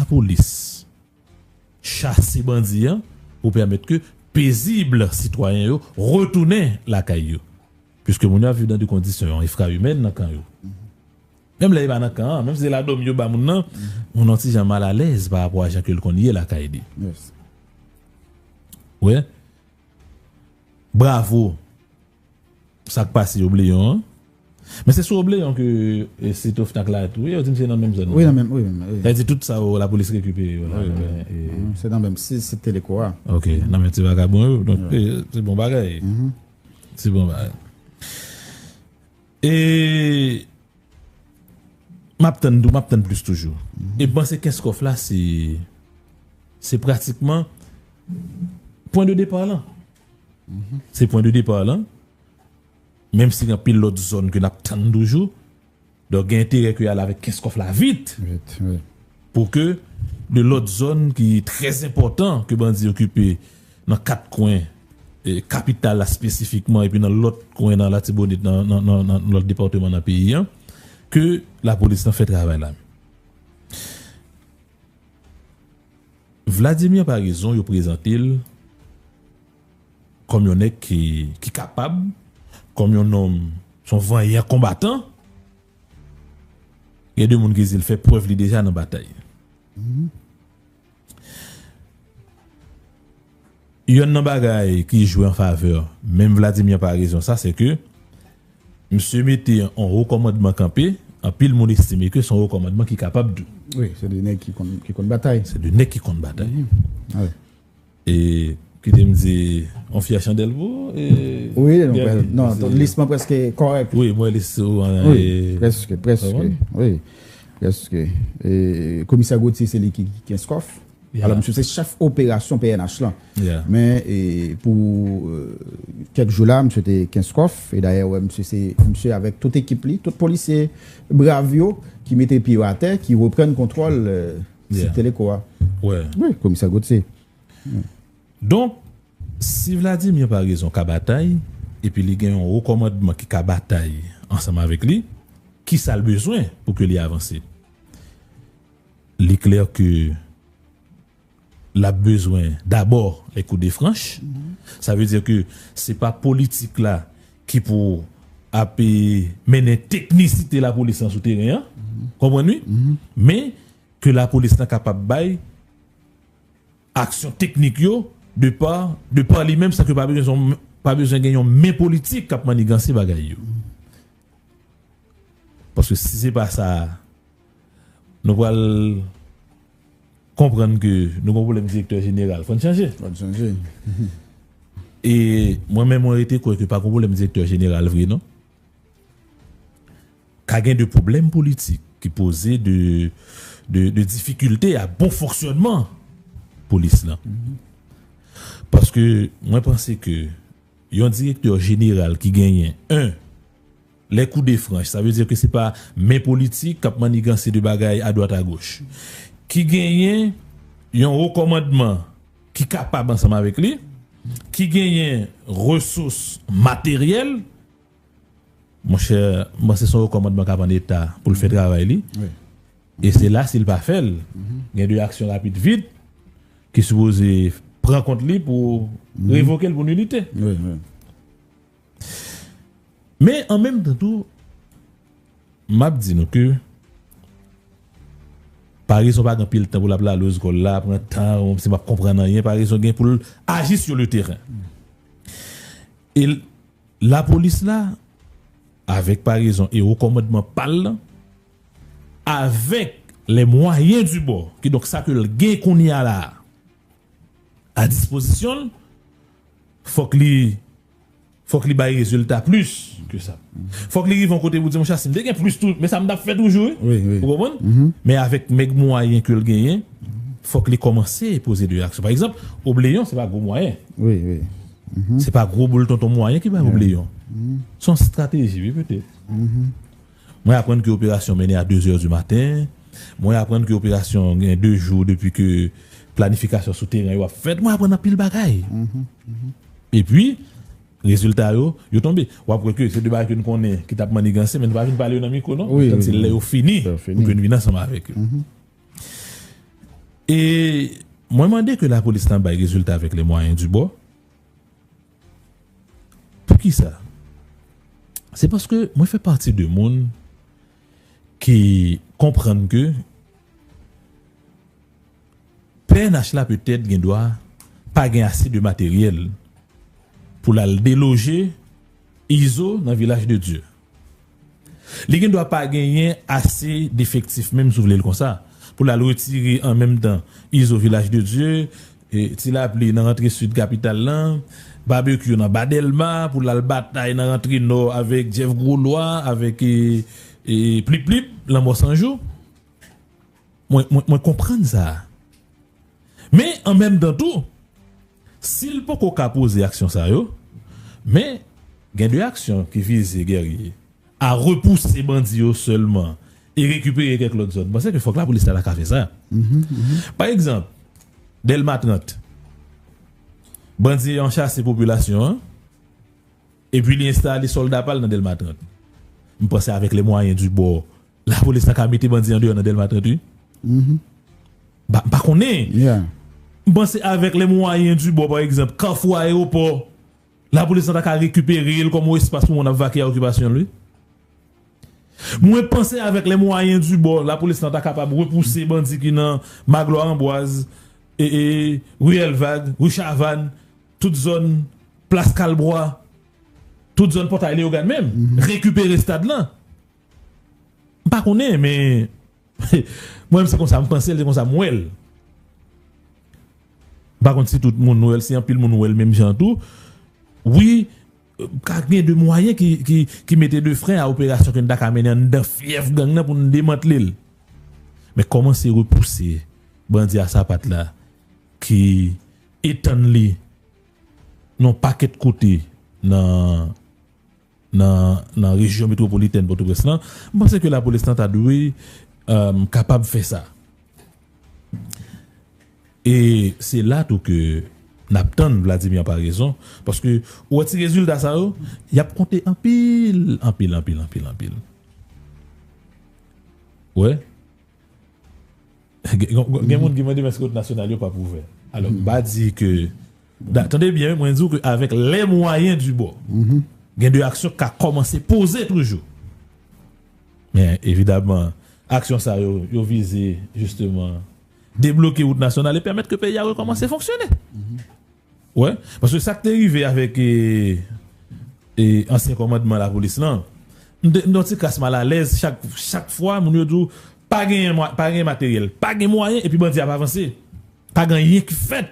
Lapolis chase bandi an pou pèmèt ke pezib sitwayen yo retounen lakay yo. Piske moun yo ap viv nan de kondisyon efraimèn nan kan yo. Menm lè e pa nan kan an, menm si se ladòmi yo ba moun nan, moun nan yon ti jan mal alèz pa rapò a jan ke l konn ye lakay li. Ou wè? Bravo! Sak pase obleyon an. Men se sou obleyon ke sit ofnak la tou ye yo dim se nan menm zòn nan. Wi nan menm wi menm. Sa vle di tout sa yo lapolis rekipere yo la. Se nan menm si sit teleko a. Ok nan menm ti vagabon yo donk se bon bagay. Se bon bagay. E map tann tou map tann plis toujou. E m panse kenskof la se se pratikman pwen de depar lan. Se pwen de depar lan, menm si gen anpil lot zon ke nap tann toujou, donk gen enterè ke yal avek Kenskof la vit, pou ke de lot zon ki trè enpotan ke bandi okipe nan 4 kwen kapital la spesifikman epi nan lot kwen nan latibonit nan lot departeman nan peyi an, ke lapolis lan fè travay la. Vladimir Paraison yo prezante l kòm yon nèg ki kapab, kòm yon nonm, son vanyan konbatan. Gen de moun ki di l fè prèv li deja nan batay. Yonn nan bagay ki jwe an favè menm Vladimir Paraison sa se ke misye mete yon wo kòmandman kanpe, anpil moun estime ke se yon wo kòmandman ki kapab tou. Wi, se 2 nèg ki konn ki konn batay. Se 2 nèg ki konn batay. Wi. E kite m di yon fyè chandèl pou ou e Wi, non, lis mwen prèske kòrèk. Wi, mwen lis ou an e Wi, prèske, prèske. Wi, prèske. E komisè Gauthier se li ki kenskof. Alò misye se chèf operasyon pnh lan. Men pou kèk jou la misye te kenskof e dayè ou wè misye se misye avèk tout ekip li, tout polisye brav yo ki mete pye yo atè, ki reprann kontwòl sit Teleco a. Wi, komisè Gauthier. Donk, si Vladimir pa rezon ka batay, epi li gen yon wo kòmandman ki ka batay ansanm avèk li, kisa l bezwen pou ke li avanse? Li klè ke l ap bezwen dabò lè kou de franch. Sa vle di ke se pa politik la ki pou ap mennen teknisite lapolis lan sou teren an. Ou konprann wi? Men, ke lapolis lan kapab bay aksyon teknik yo de pa de pa li menm san ke pa bezwen gen yon men politik k ap manniganse bagay yo. Paske si se pa sa, nou pral konprann ke nou gon pwoblèm direktè jeneral. Fòn chanje. Fòn chanje. E mwen menm mwen rete kwè ke pa gon pwoblèm direktè jeneral vre non. Ka gen de pwoblèm politik ki poze de difikilte a bon fonksyònman polis lan. Paske mwen panse ke Yon direktè jeneral ki genyen 1. Lè kou de franch, sa vle di ke se pa men politik k ap manniganse de bagay adwat agoch. Ki genyen yon wo kòmandman ki kapab ansanm avèk li, ki genyen resous materyèl, Monchè, m panse se yon rekòmandman k ap an eta pou l fè travay li. E se la si l pa fè l, gen de aksyon rapid vit ki sipoze pran kont li pou revoke l pou nilite. Men, an menm tan tou, m ap di nou ke Paraison pa gen anpil tan pou l ap lale ozgòl la, l ap pran tan l, m si m ap konprann anyen, Paraison gen pou l aji sur le terrain. E Lapolis la, avèk parezon e wo kòmandman pa l lan, avèk les moyens du bord, kidonk sa ke l gen kounye a la a, a dispozisyon l, fòk li, fòk li bay rezilta plis ke sa. Fòk li rive yon kote pou di, monchè, si m te gen plis tou, men sa m t ap fè toujou wi. Wi, wi. Ou konprann? Men avèk mèg mwayen ke l genyen, fòk li kòmanse poze de aksyon. Pa egzanp, obleyon se pa gwo mwayen. Wi, wi. Se pa gwo boul tonton mwayen ki bay oubleyon. Se yon strateji wi petèt. Mwen aprann ke operasyon mennen a 2 zè di maten. Mwen aprann ke operasyon gen 2 jou depi ke planifikasyon sou teren yo ap fèt. Mwen aprann anpil bagay. Epi, rezilta yo, yo tonbe. W ap wè ke se de bagay ke n konnen ki t ap maniganse men nou pa vin pale yo nan mikwo non. Petèt se lè yo fini pou ke n vin ansanm avèk yo. E mwen mande ke lapolis lan bay rezilta avèk le mwayen di bò. Poukisa? Se paske mwen fè pati de moun ki konprann ke pnh la petèt gen dwa pa gen ase de materyèl pou l al deloje Izo nan Vilaj de Dye. Li gen dwa pa genyen ase defektif menm si w vle l konsa pou l al retire an menm tan Izo Vilaj de Dye, Ti Lapli nan rantre Sid kapital lan, Babekyou nan Ba Dèlma pou l al batay nan rantre Nò avèk Jeff Gwo Lwa avèk Plip Plip Lanmò San Jou. Mwen konprann sa. Men an menm tan tou, si l poko ka poze aksyon sa yo, men gen de aksyon ki vize Guerrier a repouse bandi yo sèlman e rekipere kèk lòt zòn. M panse ke fòk lapolis ta ka fè sa. Pa egzanp, Dèlma 30, bandi an chase popilasyon an. Epi li enstale solda pal nan Delma 30. M panse avek le mwayen du bò la polis ta ka mete bandi andeyò nan Delma 30 wi. M pa konnen. M panse avek le mwayen du bò pa egzanp kafou aeropò la polis ta ka rekipere l kom on espas pou moun ap vake a okipasyon l wi. Mwen panse avek le mwayen du bò la polis ta kapab repouse bandi ki nan Magloire Ambroise, Rue Elvag, Rue Chavanne. Tout zòn Plas Kalbwa, tout zòn Pòtay Leyogàn menm, rekipere stad lan. M pa konnen men mwen menm se konsa m panse l, se konsa m wè l. M pa konn si tout moun wè l, si anpil moun wè l menm jan tou. Wi, ka gen de mwayen ki mete de fren a operasyon ke n ta ka mennen anndan fyèf gang nan pou n demantle l. Men kòmanse repouse bandi a sapat la ki. Etann li nan yon pakèt kote nan rejyon metwopolitèn Pòtoprens lan, m panse ke lapolis lan ta dwe kapab fè sa. E se la tou ke n ap tann Vladimir an parezon, paske ou wè ti rezilta sa yo, y ap konte anpil, anpil, anpil, anpil, anpil. Ou wè? Gen moun ki mande eske rout nasyonal yo pap ouvè. Alò m pa di ke, tande byen wi mwen di w ke avèk les moyens du bord gen de aksyon ki ka kòmanse poze toujou. Men evidaman aksyon sa yo, yo vize jisteman debloke rout nasyonal e pèmèt ke peyi a rekòmanse fonksyone. Wè, paske sak te rive avèk ansyen kòmandman lapolis lan, m te yon ti kras malalèz chak fwa moun yo di w pa genyen materyèl, pa gen mwayen epi bandi ap avanse. Pa gen anyen ki fèt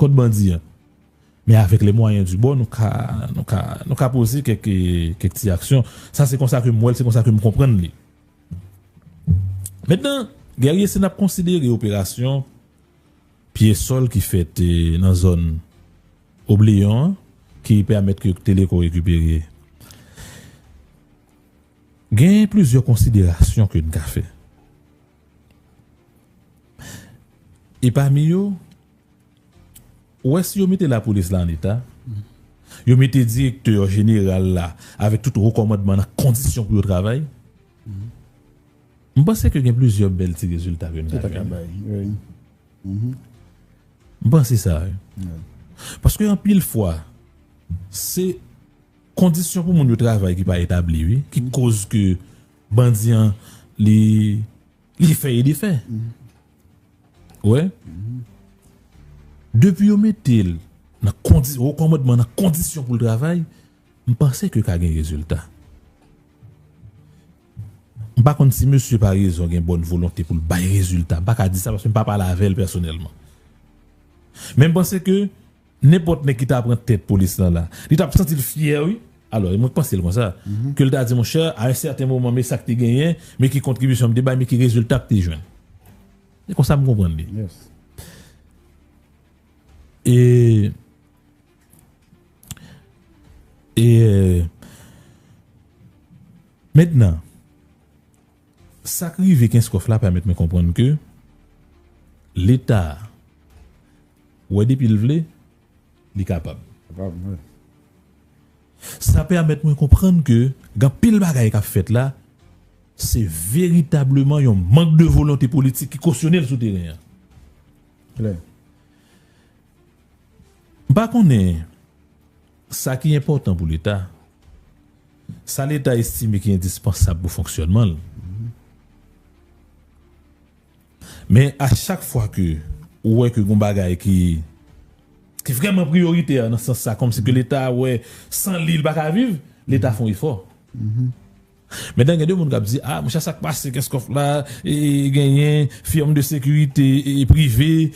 kont bandi an. Men avèk lè mwayen di bò nou ka nou ka poze kèk ti aksyon. Sa se konsa ke m wè l, se konsa ke m konprann li. Mentnan, Guerrier se n ap konsidere operasyon Pye sòl ki fèt nan zòn Obleyon an ki pèmèt ke Teleco rekipere. Gen plizyè konsiderasyon ke n ka fè. E pami yo, ou wè si yo mete lapolis la an eta, yo mete direktè jeneral la avèk tout wo kòmandman nan kondisyon pou yo travay, M panse ke gen plizyè bèl ti rezilta ke n ta ka bay. M panse sa wi. Paske anpil fwa, se kondisyon pou moun yo travay ki pa etabli wi, ki koz ke bandi an li li fè e defè. Ou wè? Depi yo mete l nan kondi, nan wo kòmandman nan kondisyon pou l travay, M panse ke ka gen rezilta. M pa konn si mesye Paraison gen bòn volonte pou l bay rezilta. M pa ka di sa paske m pa pale avè l pèsonèlman. Men m panse ke nenpòt nèg ki ta pran tèt polis lan la, li t ap santi l fyè wi. Alò, mwen panse l konsa. Ke l ta di monchè, a yon sèten moman men sa k te genyen, men ki kontribisyon m te bay, men ki rezilta m te jwenn. Se konsa m konprann li. E. E mentnan sak rive kenskof la pèmèt mwen konprann ke leta wè depil vle li kapab. Sa pèmèt mwen konprann ke gen anpil bagay kap fèt la se veritableman yon mank de volonte politik ki kosyonel sou teren an. M pa konnen sa ki enpòtan pou Leta, sa Leta estime ki endispansab pou fonksyònman l. Men a chak fwa ke ou wè ke gon bagay ki vrèman priyoritè nan sans sa, kòmsi ke Leta wè san li, li pa ka viv, Leta fon efò. Mentan gen de moun k ap di, a monchè sa k pase Kenscoff la, e genyen firm de securite prive,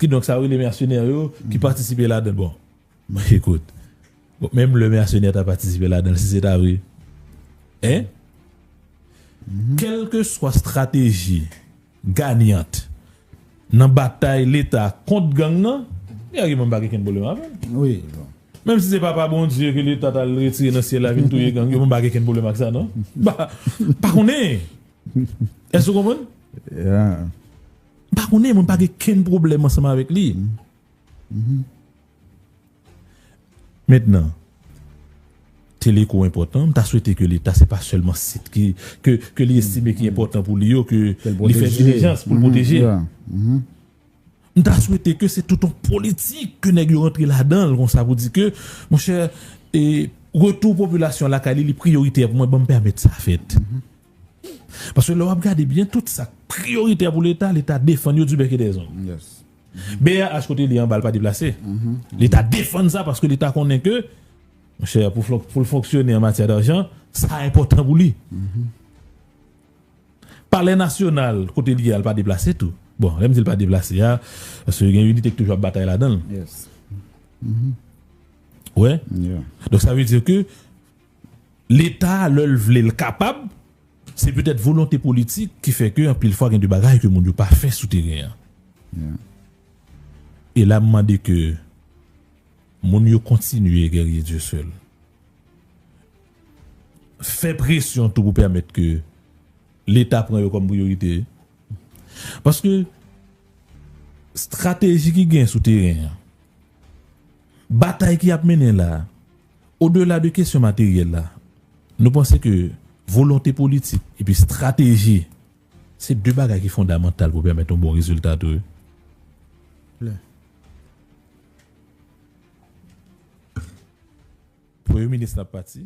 kidonk sa yo rele mèsenè yo ki patisipe ladan l. Bon, ekout, menm lè mèsenè ta patisipe ladan l, si se ta vre, hein? Kèlkeswa strateji. Gagnant nan batay leta kont gang nan e a riman m pa gen kenn pwoblèm avè l menm si se pa pa Bondye ke leta ta l retire nan syèl la vin touye gang yo mwen pa gen kenn pwoblèm ak sa non m pa m pa konnen èske ou konprann m pa konnen mwen pa gen kenn pwoblèm ansanm avèk li Mentnan, Teleco enpòtan, m ta swete ke leta se pa sèlman sit ki, ke, ke li estime ki enpòtan pou li yo ke li fè dilijans pou l pwoteje. M ta swete ke se tout yon politik ke nèg yo rantre ladan l konsa pou di ke, monchè, e, retou popilasyon an lakay li, li priyoritè pou mwen, ban m pèmèt sa fèt. Paske lè w ap gade byen, tout sa k priyoritè pou leta, leta defann yo di bèk e dè zong. BRH kote li an bal pa deplase. Leta defann sa paske leta konnen ke monchè pou l fonksyone an matyè darjan sa enpòtan pou li. Palè nasyonal kote li an l pa deplase tou. Bon lè m di l pa deplase a paske gen inite ki toujou ap batay ladan l. Ou wè? Donk sa vle di ke. Leta a lè l vle l kapab, se petèt volonte politik ki fè ke anpil fwa gen de bagay ke moun yo pa fè sou teren an. E la m mande ke moun yo kontinye Guerrier Dieuseul fè presyon tou pou pèmèt ke Leta pran yo kòm priyorite. Paske strateji ki gen sou teren an, batay ki ap mennen la a, Odela de kesyon materyèl la, nou panse ke volonte politik epi strateji se de bagay ki fondamantal pou pèmèt yon bon rezilta tou wi. Premye minis la pati.